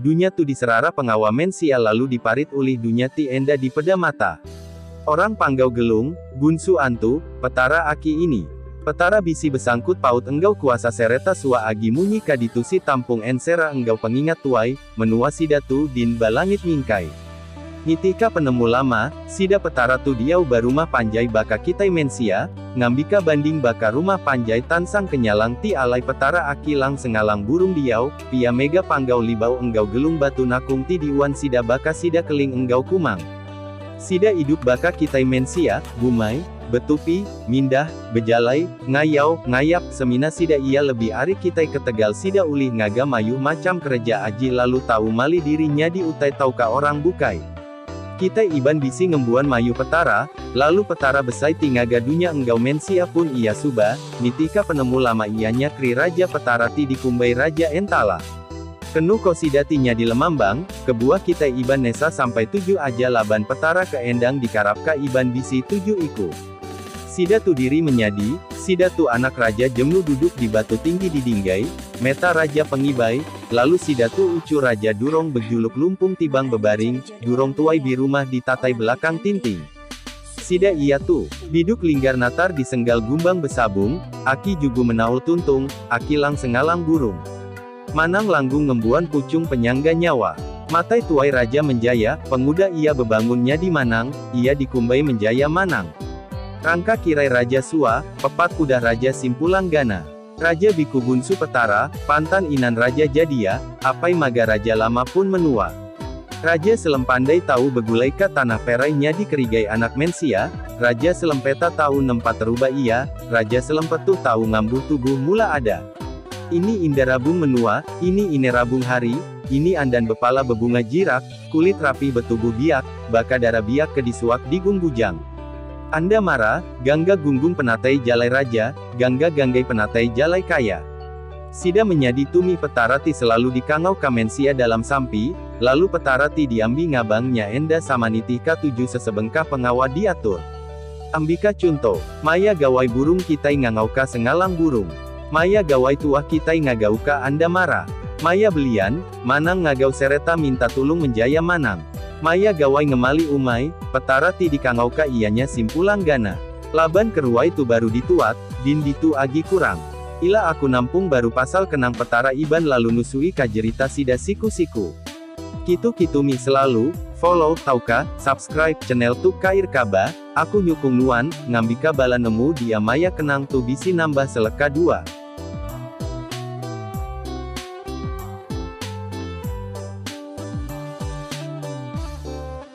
Dunya tu diserara pengawa mensia lalu diparit ulih dunya ti enda dipeda mata. Orang panggau Gelung, Gunsu Antu, Petara aki ini. Petara bisi besangkut paut enggau kuasa sereta suah agi munyi ka ditusi tampung ensera enggau pengingat tuai, menua sida tu din ba langit mingkai. Nitihka penemu lama, sida Petara tu diau ba rumah panjai baka kitai mensia, ngambika banding baka rumah panjai tansang kenyalang ti alai Petara aki lang sengalang burung diau, pia mega panggau libau enggau gelung batu nakung ti diuan sida baka sida keling enggau kumang. Sida idup baka kitai mensia, bumai. betupi, mindah, bejalai, ngayau, ngayap, semina sida iya lebih ari kitai ketegal sida ulih ngaga mayuh macham kereja aji lalu tau mali diri nyadi utai tauka orang bukai. Kitai Iban bisi ngembuan mayuh Petara, lalu Petara besai ti ngaga dunya enggau mensia pun iya suba, nitihka penemu lama iya nya Kri Raja Petara ti dikumbai Raja Entala. Kenu ko sida ti nyadi lemambang, kebuah kitai Iban nesa sampai tuju aja laban Petara ke endang dikarap ka Iban bisi tuju iku. Sida tu diri menyadi, sida tu anak Raja Jemlu duduk di batu tinggi di Dinggai, meta Raja Pengibai, lalu sida tu ucu Raja Durong bejuluk Lumpung Tibang Bebaring, Durong Tuai Birumah di Tatai Belakang Tinting. Sida iya tu, Biduk Linggar Natar di Senggal Gumbang Besabung, Aki Jugu Menaul Tuntung, Aki Lang Sengalang Burung. Manang Langgung Ngembuan Puchung Penyangga Nyawa. Matai Tuai Raja Menjaya, pengudah iya bebangun nyadi Manang, iya dikumbai Menjaya Manang. Rangka Kirai Raja Sua, pepat kudah Raja Simpulang Gana. Raja Biku Bunsu Petara, pantan inan Raja Jadia, apai maga Raja Lama pun menua. Raja Selem pandai tau begulai ka tanah Perai nyadi kerigai anak mensia, Raja Selem Peta tau nempa teruba iya, Raja Selem Petuh tau ngambuh tubuh mula ada. Ini inda rabung menua, ini ine rabung hari, ini andan bepala bebunga jirak, kulit rapih betubuh biak, baka dara biak ke disuak di gung bujang. Anda mara, gangga gunggung penatai jalai Raja, Gangga ganggai penatai jalai kaya. Sida menyadi tumih Petara ti selalu dikangau ka mensia dalam sampi, lalu Petara ti diambi ngabang nya enda sama nitih ka tuju sesebengkah pengawa diatur. Ambika chunto, maya gawai burung kitai ngangau ka sengalang burung. Maya gawai tuah kitai ngagau ka anda mara. Maya belian, manang ngagau sereta minta tulung menjaya manang. Maya gawai ngemali umai, Petara ti dikangau ka iyanya simpulang gana. Laban keruai tu baru dituak, din ditu agi kurang. Ila aku nampung baru pasal kenang Petara Iban lalu nusui ka jerita sida siku-siku. Kitu kitu mih selalu, follow, tauka, subscribe, channel tu kair ka ba, aku nyukung nuan, ngambika bala nemu dia maya kenang tu bisi nambah seleka dua.